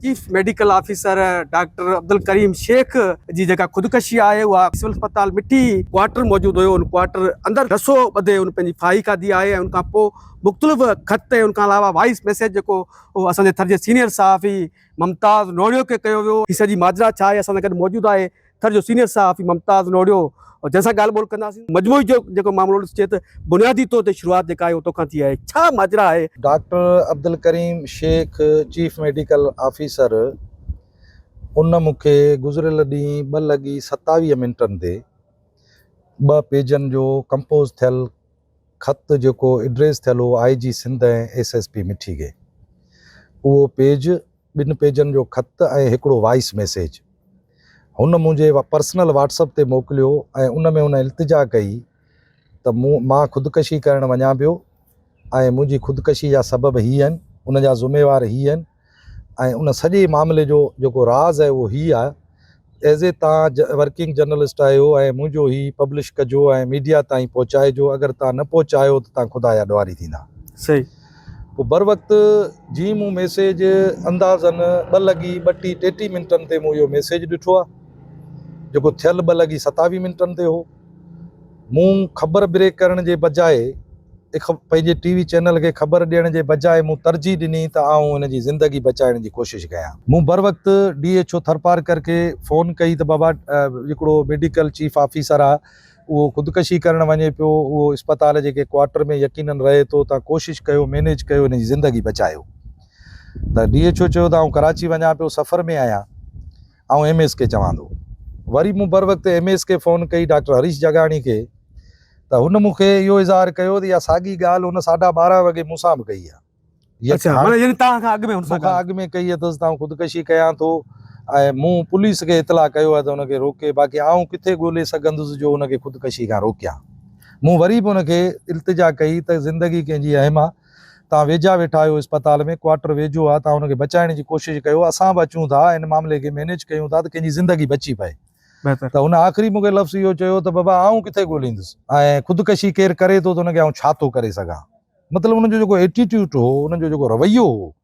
Chief medical officer doctor Abdul Karim Shaikh جي جيڪا خودڪشي آهي اها سول اسپتال مٺي ڪوارٽر موجود هيو ان ڪوارٽر اندر رسو ٻڌي ان پنهنجي ڦاهي کاڌي آهي ۽ ان کان پوء مختلف خط ۽ ان کان علاوه وائس ميسيج جيڪو اهو اسان جي ٿر جي سينيئر صحافي ممتاز نوڙيو کي ڪيو ويو هي سڄي ماجرا ڇا آهي اسان سان گڏ موجود آهي ٿر جو سينيئر صحافي ممتاز لوڙهيو جنهن سان ڳالهه ٻولهه ڪنداسين مجموعي جو جيڪو معاملو ڏسجي ته بنيادي طور تي شروعات جيڪا آهي اهو توکان ٿي آهي ڇا ماجرا آهي. Doctor Abdul Karim Shaikh chief medical officer ان مون کي گذريل ڏينهن ٻه لڳي ستاويهه منٽن تي ٻه پيجن جو ڪمپوز ٿيل خط جيڪو ايڊريس ٿيل هو I G Sindh ۽ S S P Mithi گي اهو پيج ٻن پيجن جو خط ۽ هڪڙو وائيس ميسيج هن منهنجي پرسنل واٽس اپ تي موڪليو ۽ ان ۾ هن التجا ڪئي ته مون مان خودڪشي ڪرڻ وڃان پيو ۽ منهنجي خودڪشي جا سبب هي آهن، ان جا ذميوار هي آهن ۽ ان سڄي معاملي جو جيڪو راز آهي اهو هي آهي ايز اي تان ورڪنگ جرنلسٽ آهيو ۽ منهنجو هي پبلش ڪجو ۽ ميڊيا تائين پهچائجو اگر تان نه پهچايو ته تان خدا جا ڏوهاري ٿيندا. صحيح. پوء بروقت جي مون ميسيج اندازن ٻه لڳي ٻٽي ٽيٽي منٽن تي مون اهو ميسيج ڏٺو آهي جيڪو ٿيل ٻه لڳي ستاويهه منٽن تي هو. مون خبر بريڪ ڪرڻ جي بجاء پنهنجي ٽي وي چينل کي خبر ڏيڻ جي بجاء مون ترجيح ڏني ته آئون هن جي زندگي بچائڻ جي ڪوشش ڪيان. مون بروقت ڊي ايڇ او ٿرپارڪر کي فون ڪئي ته بابا هڪڙو ميڊيڪل چيف آفيسر آ اهو خودڪشي ڪرڻ وڃي پيو اهو اسپتال جي ڪنهن ڪوارٽر ۾ يقينن رهي ٿو تان ڪوشش ڪيو مينيج ڪيو هن جي زندگي بچايو ته ڊي ايڇ او چيو ته آئون ڪراچي وڃان پيو سفر ۾ آهيان. آئون ايم ايس کي چوان ٿو. وري مون بروقت ايم ايس کي فون ڪئي ڊاڪٽر هريش جاگاڻي کي ته هن مون کي اهو اظهار ڪيو ته اها ساڳي ڳالهه هن ساڍا ٻارهن وڳي مون سان به ڪئي هئي. اڇا معنيٰ يعني توهان کان اڳ ۾ هن سان ڳالهه. مون کان اڳ ۾ ڪئي اٿس ته آئون خودڪشي ڪيان ٿو ۽ مون پوليس کي اطلاع ڪيو آهي ته هن کي روڪي باقي آئون ڪٿي ڳولي سگهندس جو هن کي خودڪشي کان روڪيان. مون وري به هن کي التجا ڪئي ته زندگي ڪنهن جي اهم آهي. توهان ويجها ويٺا آهيو اسپتال ۾ ڪوارٽر ويجهو آ توهان ان کي بچائڻ جي ڪوشش ڪيو اسان به اچون ٿا ان معاملي کي مينيج ڪيون ٿا ته ڪنهن جي زندگي بچي پئي بهتر ته هن آخري مون کي لفظ اهو چيو ته بابا آئون ڪٿي ڳوليندس ۽ خودڪشي ڪير ڪري ٿو ته ان کي آئون ڇا ٿو ڪري سگهان مطلب ان جو جيڪو ايٽيٽيوٽ هو ان جو جيڪو رويو هو.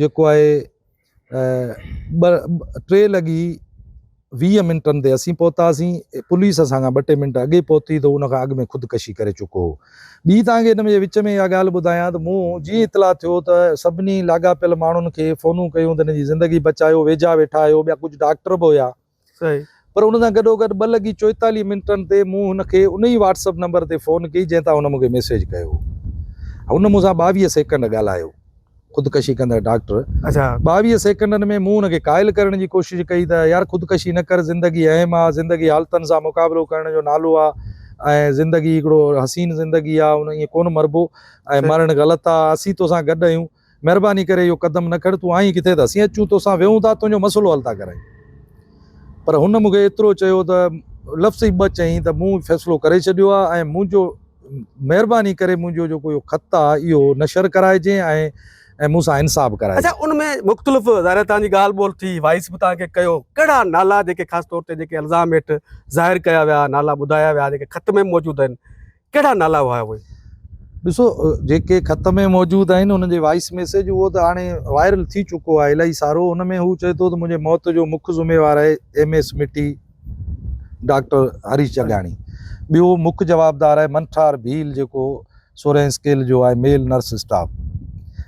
جيڪو آهي ٻه ٽي لڳي ويهه منٽن تي اسين پهتاسين پوليس اسان کان ٻه ٽي منٽ اڳي پهتي ته ان کان اڳ ۾ خودڪشي ڪري چڪو هو ٻي توهان کي ان جي وچ ۾ اها ڳالهه ٻڌايان ته مون جيئن اطلاع ٿيو ته سڀني لاڳاپيل ماڻهن کي فونون ڪيون ته هن جي زندگي بچايو ويجها ويٺا آهيو ٻيا ڪجهه ڊاڪٽر به هيا پر ان سان گڏوگڏ ٻه لڳي چوئيتاليهه منٽن تي مون هن کي ان ئي واٽس اپ نمبر تي فون ڪئي جنهن تان هن مون کي ميسيج ڪيو هو. هن مون سان ٻاويهه سيڪنڊ ڳالهايو. خودڪشي ڪندڙ ڊاڪٽر ٻاويهه سيڪنڊن ۾ مون هن کي قائل ڪرڻ جي ڪوشش ڪئي ته يار خودڪشي نه ڪر زندگي اهم آ، زندگي حالتن سان مقابلو ڪرڻ جو نالو آ ۽ زندگي هڪڙو حسين زندگي آ ان ائين ڪونه مربو ۽ مرڻ غلط آ، اسين توسان گڏ آهيون. مهرباني ڪري اهو قدم نه کڻ، تون آئين ڪٿي ته اسين اچون توسان ويهون ٿا تنهنجو مسئلو حل ٿا ڪرايون. پر هن مون کي ايترو چيو ته لفظ ئي ٻه چيائين ته مون فيصلو ڪري ڇڏيو آهي ۽ منهنجو مهرباني ڪري منهنجو جيڪو اهو خط آهي اهو نشر ڪرائجين ۽ مون سان انصاف ڪرائجين. اچا ان ۾ مختلف ظاهر توهان جي ڳالهه ٻولهه ٿي، وائس به توهان کي ڪيو، ڪهڙا نالا جيڪي خاص طور تي جيڪي الزام هيٺ ظاهر ڪيا ويا، نالا ٻڌايا ويا جيڪي خط ۾ به موجود آهن، ڪهڙا نالا هئا اهي؟ ڏسو جيڪي خط ۾ موجود آهن انهن جي وائيس ميسيج اهو ته هاڻي وائرل ٿي چڪو آهي الائي سارو ان ۾ هو چئي ٿو ته منهنجي موت جو مک ذميوار آهي M S Mithi doctor Harish Jagani ٻيو مک جوابدار آهي منٺار ڀيل جيڪو سورهين اسڪيل جو آهي ميل نرس اسٽاف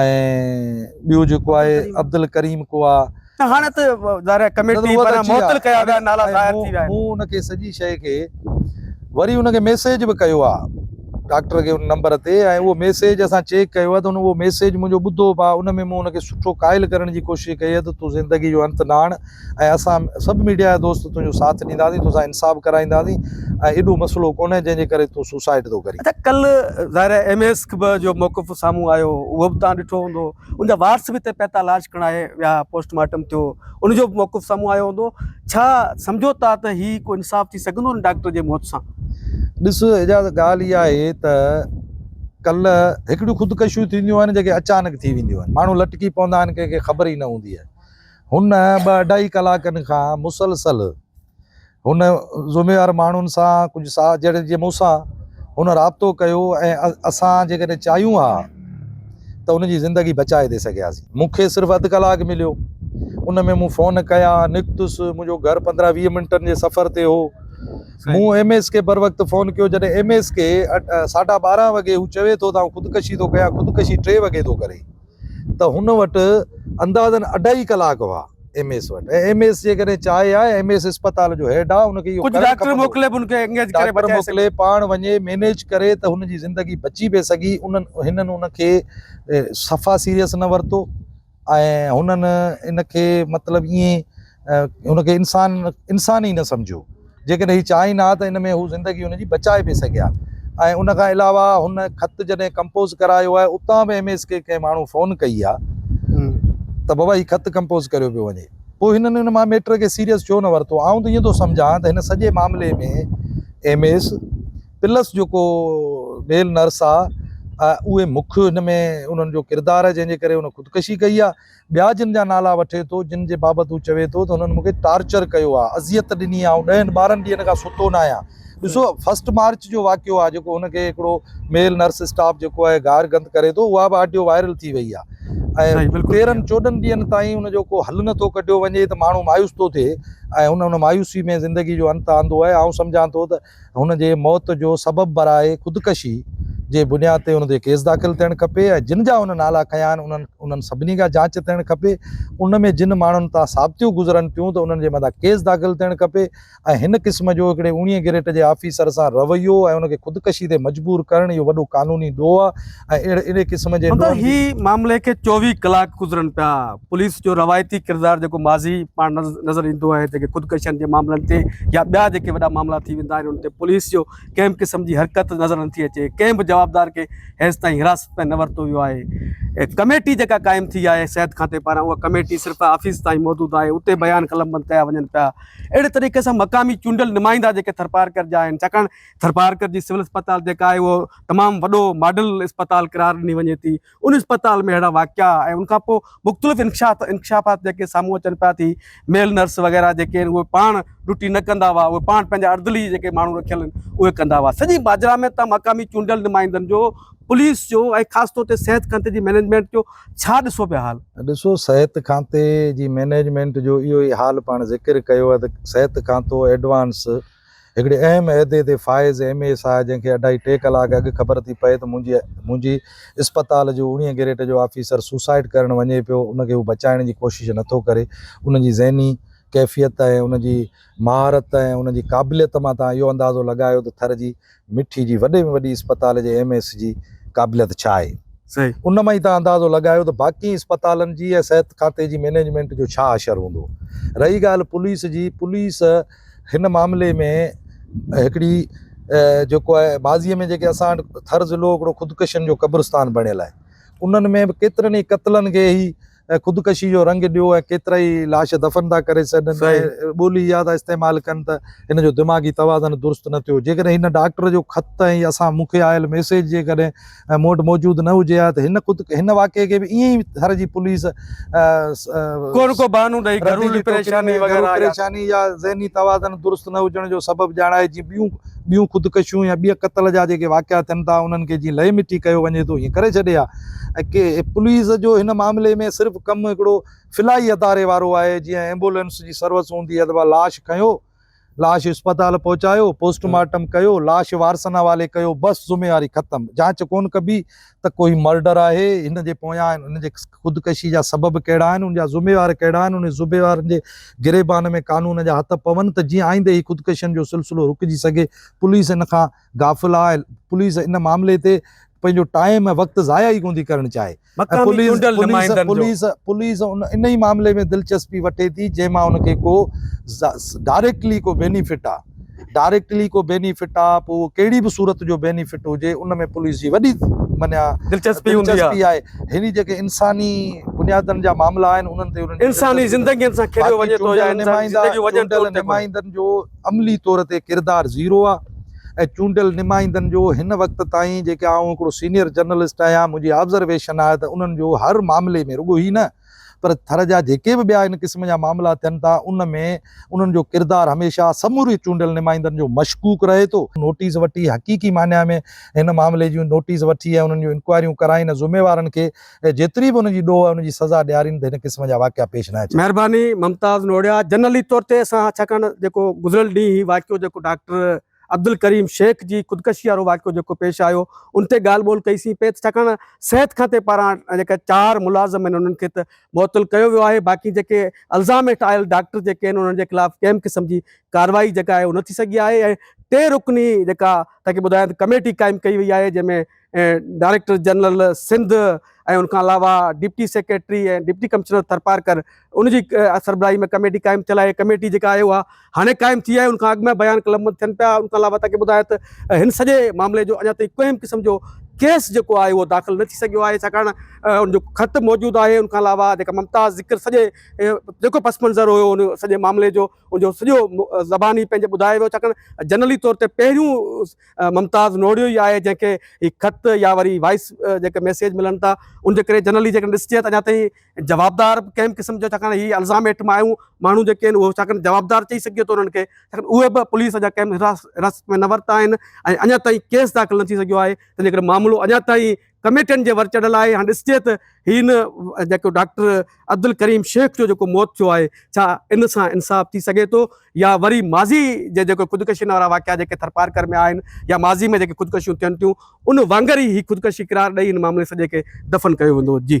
۽ ٻيو جيڪو آهي عبدالڪريم ڪوا. هاڻي ته ظاهر آهي ڪميٽي پاران معطل ڪيا ويا نالا ظاهر ٿي ويا آهن. مون ان کي سڄي شيء کي وري ان کي ميسيج به ڪيو آ ڊاڪٽر کي ان نمبر تي ۽ اهو ميسيج اسان چيڪ ڪيو آ ته ان اهو ميسيج منهنجو ٻڌو به آ ان ۾ مون ان کي سٺو قائل ڪرڻ جي ڪوشش ڪئي آ ته تون زندگي جو انت نه آڻ ۽ اسان سڀ ميڊيا جا دوست تنهنجو ساٿ ڏينداسين توسان انصاف ڪرائينداسين ۽ ايڏو مسئلو ڪونهي جنهن جي ڪري تون سوسائيڊ ٿو ڪرين. اچا ڪلهه ظاهر آهي ايم ايس کي به جو موقف سامهون آيو اهو به توهان ڏٺو هوندو ان جا وارث به هتي پهتا لاش کڻائي ويا پوسٽ مارٽم ٿيو ان جو به موقف سامهون آيو هوندو ڇا سمجهو ٿا ته هي ڪو انصاف ٿي سگهندو ان ڊاڪٽر جي موت سان؟ ڏس اعجاز ڳالهه اها آهي ته ڪلهه هڪڙيون خودڪشيون ٿينديون آهن جيڪي اچانڪ ٿي وينديون آهن ماڻهو لٽڪي پوندا آهن ڪنهن کي خبر ئي نه هوندي آهي هن ٻه اڍائي ڪلاڪن کان مسلسل هن ذميوار ماڻهن سان ڪجهه ساهه جهڙن جي مون سان هن رابطو ڪيو ۽ اسان جيڪڏهن چاهيون ها ته هن جي زندگي بچائي ٿي سگهياسين. مون کي صرف اڌ ڪلاڪ مليو. ان ۾ مون فون ڪيا، نڪتس، منهنجو گهر پندرهن ويهه منٽن جي سفر تي هو. مون ايم ايس کي بروقت فون ڪيو جڏهن ايم ايس کي ساڍا ٻارهن وڳي هو چوي ٿو ته آئون خودڪشي ٿو ڪيان خودڪشي ٽي وڳي ٿو ڪري. ته هن وٽ اندازن اڍائي ڪلاڪ هئا ايم ايس وٽ ۽ ايم ايس جيڪڏهن چاهي ها ايم ايس اسپتال جو هيڊ آ ان کي اهو ڪجهه ڊاڪٽر موڪلي به ان کي انگيج ڪري بچائي سگهي ڊاڪٽر موڪلي پاڻ وڃي مينيج ڪري ته هن جي زندگي بچي به سگهي انهن هنن ان کي صفا سيريس نه ورتو ۽ هنن ان کي مطلب ائين ان کي انسان انسان ئي نه سمجهيو جيڪڏهن هي چاهين ها ته ان ۾ هو زندگي ان جي بچائي به سگهي ها ۽ ان کان علاوه هن خط جڏهن ڪمپوز ڪرايو آهي اتان به ايم ايس کي ڪنهن ماڻهو فون ڪئي آهي ته بابا هي خط ڪمپوز ڪريو پيو وڃي پوء هنن ان مان ميٽر کي سيريس ڇو نه ورتو آئون ته ائين ٿو سمجهان ته هن سڄي معاملي ۾ ايم ايس پلس جيڪو ميل نرس آهي اهي مک ان ۾ انهن جو ڪردار جنهن جي ڪري ان خودڪشي ڪئي آهي ٻيا جن جا نالا وٺي ٿو، جن جي بابت هو چوي ٿو ته هنن مون کي ٽارچر ڪيو آهي، اذيت ڏني آهي، آئون ڏهن ٻارهن ڏينهن کان ستو نه آهيان. ڏسو فرسٽ مارچ جو واقعو آهي جيڪو هن کي هڪڙو ميل نرس اسٽاف جيڪو آهي گار گند ڪري ٿو اها به آڊيو وائرل ٿي وئي آهي ۽ تيرهن چوڏهن ڏينهن تائين ان جو ڪو حل نٿو ڪڍيو وڃي ته ماڻهو مايوس ٿو ٿئي ۽ هن ان مايوسي ۾ زندگي جو انت آندو آهي آئون سمجهان ٿو ته هن جي موت جو سبب برائي خودڪشي جي بنياد تي هن تي ڪيس داخل ٿيڻ کپي ۽ جن جا هن نالا کنيا آهن انهن انهن سڀني کان جاچ ٿيڻ کپي ان ۾ جن ماڻهن تان ثابتيون گذرن ٿيون ته انهن جي مٿان ڪيس داخل ٿيڻ کپي ۽ هن قسم جو هڪڙي اوڻيهين گريٽ جي آفيسر سان رويو ۽ ان کي خودڪشي تي مجبور ڪرڻ اهو وڏو قانوني ڏوهه آهي ۽ اهڙي قسم جي ڏوهن جي. هن معاملي کي چوويهه ڪلاڪ گذرن پيا، پوليس جو روايتي ڪردار جيڪو ماضي پاڻ نظر ايندو آهي جيڪي خودڪشين جي معاملن تي يا ٻيا جيڪي وڏا معاملا ٿي ويندا آهن ان تي پوليس جو ڪنهن به قسم جي حرڪت نظر نٿي اچي ڪنهن به جوابدار کي هيس تائين حراست ۾ نه ورتو ويو آهي ڪميٽي جيڪا قائم ٿي آهي صحت کاتي پاران اها ڪميٽي صرف آفيس تائين محدود آهي اتي بيان قلمبند ڪيا وڃن پيا اهڙي طريقي سان مقامي چونڊيل نمائندا جيڪي ٿرپارڪر جا آهن ڇاڪاڻ ٿرپارڪر جي سول اسپتال جيڪا آهي اهو تمام وڏو ماڊل اسپتال قرار ڏني وڃي ٿي ان اسپتال ۾ اهڙا واقعا ۽ ان کان پوء مختلف انڪشاف انڪشافات جيڪي سامهون اچن پيا ٿي ميل نرس وغيره جيڪي آهن اهي پاڻ ڊيوٽي نه ڪندا هئا اهي پاڻ پنهنجا اردلي جيڪي ماڻهو رکيل آهن اهي ڪندا هئا سڄي ماجرا ۾ تمام مقامي چونڊيل نمائندن جو پوليس جو ۽ خاص طور تي صحت کانتي جي مئنيجمينٽ جو ڇا ڏسو پيا حال ڏسو صحت کانتي جي مئنيجمينٽ جو اهو ئي حال پاڻ ذڪر ڪيو آهي ته صحت کانتو ايڊوانس هڪڙي اهم عهدي تي فائز ايم اي ايس آء جنهن کي اڍائي ٽي ڪلاڪ اڳ خبر ٿي پئي ته منهنجي منهنجي اسپتال جو اوڻيهه گريڊ جو آفيسر سوسائيڊ ڪرڻ وڃي پيو ان کي هو بچائڻ جي ڪوشش نٿو ڪري ان جي ذهني ڪيفيت ۽ ان جي مهارت ۽ ان جي قابليت مان توهان اهو اندازو لڳايو ته ٿر جي مٺي جي وڏي ۾ وڏي اسپتال جي ايم ايس جي قابليت ڇا آهي؟ ان مان ئي توهان اندازو لڳايو ته باقين اسپتالن جي ۽ صحت کاتي جي مينيجمينٽ جو ڇا حشر هوندو. رهي ڳالهه پوليس جي، پوليس هن معاملي ۾ هڪڙي جيڪو آهي ماضي ۾ جيڪي اسان وٽ ٿر ضلعو هڪڙو خودڪشن جو قبرستان بڻيل آهي. انهن ۾ به ڪيترن ئي قتلن کي هي ۽ خودڪشي جو رنگ ڏيو ۽ ڪيترائي لاش دفن ٿا ڪري ڇڏن ۽ ٻولي اها ٿا استعمال ڪن ته هن جو دماغي توازن درست نه ٿيو جيڪڏهن هن ڊاڪٽر جو خط ۽ اسان مون کي آيل ميسيج جيڪڏهن مون وٽ موجود نه هجي ها ته هن خود هن واقعي کي به ائين ئي ٿر جي پوليس ڪو نه ڪو بهانو ڏئي گهرولي پريشاني وغيره يا ذهني توازن درست نه هجڻ جو سبب ڄاڻائي جي ٻيون ٻيون خودڪشيون يا ٻيا قتل جا جيڪي واقعا ٿين ٿا انهن کي جيئن لئي مٽي ڪيو وڃي ٿو ايئن ڪري ڇڏي ها ۽ ڪي پوليس جو هن معاملي ۾ صرف ڪم هڪڙو فلاحي اداري وارو آهي جيئن ايمبولينس جي سروس هوندي اٿ ڀا لاش کنيو لاش اسپتال پهچايو پوسٽ مارٽم ڪيو لاش وارثن حوالي ڪيو بس ذميواري ختم جانچ ڪون ڪبي ته ڪو هي مرڊر آهي، هن جي پويان هن جي خودڪشي جا سبب ڪهڙا آهن، ان جا ذميوار ڪهڙا آهن، انهن ذميوارن جي گريبان ۾ قانون جا هٿ پون ته جيئن آئينده هي خودڪشين جو سلسلو رڪجي سگهي، پوليس ان کان غافل آهي، پوليس ان معاملي تي پنهنجو ٽائيم ۽ وقت ضايع ئي ڪونه ٿي ڪرڻ چاهي ۽ پوليس پوليس انهي معاملي ۾ دلچسپي وٺي ٿي جنهن مان ان کي ڪو ڊائريڪٽلي ڪو بينيفٽ آهي. ڊائريڪٽلي ڪو بينيفٽ آ پوء اهو ڪهڙي به صورت جو بينيفٽ هجي ان ۾ پوليس جي وڏي معنيٰ دلچسپي هوندي آ. دلچسپي آهي هينئر جيڪي انساني بنيادن جا معاملا آهن انهن تي انهن جي انساني دلچسپي نٿي زندگين سان کيڏيو باقي وڃي ٿو يا چونڊيل انساني نمائندا زندگيون وڃن ٿيون چونڊيل ان تي ڪو نه. نمائندن جو عملي طور تي ڪردار زيرو آ ۽ چونڊيل نمائندن جو هن وقت تائين جيڪي آئون هڪڙو سينيئر جرنلسٽ آهيان منهنجي آبزرويشن آهي ته انهن جو هر معاملي ۾ رڳو هي نه پر ٿر جا جيڪي به ٻيا ان قسم جا معاملا ٿين ٿا، ان ۾ انهن جو ڪردار هميشه سموري چونڊيل نمائندن جو مشڪوڪ رهي ٿو. نوٽيس وٺي حقيقي معني ۾ هن معاملي جون نوٽيس وٺي ۽ انهن جون انڪوائريون ڪرائين ۽ ذميوارن کي جيتري به ان جي ڏوهه آهي ان جي سزا ڏيارين ته هن قسم جا واقعا پيش نه اچن. مهرباني ممتاز نوڙيا جنرلي طور تي اسان ڇاڪاڻ جيڪو گذريل ڏينهن هي واقعو جيڪو ڊاڪٽر عبدالڪريم شيخ جي خودڪشي وارو واقعو جيڪو پيش آيو ان تي ڳالهه ٻولهه ڪئي سين پئي ته ڇاڪاڻ صحت کاتي پاران جيڪا چار ملازم آهن انهن کي ته معطل ڪيو ويو آهي باقي جيڪي الزام هيٺ آيل ڊاڪٽر جيڪي آهن انهن جي خلاف ڪنهن قسم جي ڪارروائي جيڪا آهي اهو نه ٿي سگهي آهي ۽ ٽي رڪني جيڪا تنهن کي ٻڌايان ته ڪميٽي قائم ڪئي وئي آهي جنهن ۾ ۽ ڊائريڪٽر جنرل سنڌ ۽ ان کان علاوه deputy secretary ۽ deputy commissioner Tharparkar ان جي سربراهي ۾ ڪميٽي قائم ٿيل آهي ڪميٽي جيڪا آهي اها هاڻي قائم ٿي آهي ان کان اڳ ۾ بيان قلمبند ٿين پيا ان کان علاوه تاڪي ٻڌايو ته هن سڄي معاملي جو اڃا تائين ڪنهن به قسم جو ڪيس جيڪو آهي اهو داخل نه ٿي سگهيو آهي ڇاڪاڻ ان جو خط موجود آهي ان کان علاوه جيڪا ممتاز ذڪر سڄي جيڪو پس منظر هيو ان سڄي معاملي جو ان جو سڄو زباني پنهنجي ٻڌايو ويو ڇاڪاڻ جنرلي طور تي پهريون ممتاز نوڙيو ئي آهي جنهن کي هي خط يا وري وائيس جيڪي ميسيج ملن ٿا ان جي ڪري جنرلي جيڪڏهن ڏسجي ته اڃا تائين جوابدار ڪنهن به قسم جو ڇاڪاڻ هي الزام هيٺ مايون ماڻهو جيڪي آهن اهي ڇاڪاڻ جوابدار چئي سگهجي ٿو انهن کي ڇاڪاڻ اهي به پوليس اڃا ڪنهن به حراست ۾ نه ورتا آهن ۽ اڃا تائين ڪيس داخل نه ٿي سگهيو آهي تنهنجي ڪري معاملو اڃا تائين ڪميٽن جي ورچڙهه لاء هاڻي ڏسجي ته هي ان جيڪو ڊاڪٽر عبدالڪريم شيخ جو جيڪو موت ٿيو آهي ڇا ان سان انصاف ٿي سگهي ٿو يا وري ماضي جي جيڪو خودڪشين وارا واقعا جيڪي ٿرپارڪر ۾ آهن يا ماضي ۾ جيڪي خودڪشيون ٿين ٿيون ان وانگر ئي هي خودڪشي قرار ڏئي هن معاملي سڄي کي دفن ڪيو ويندو جي.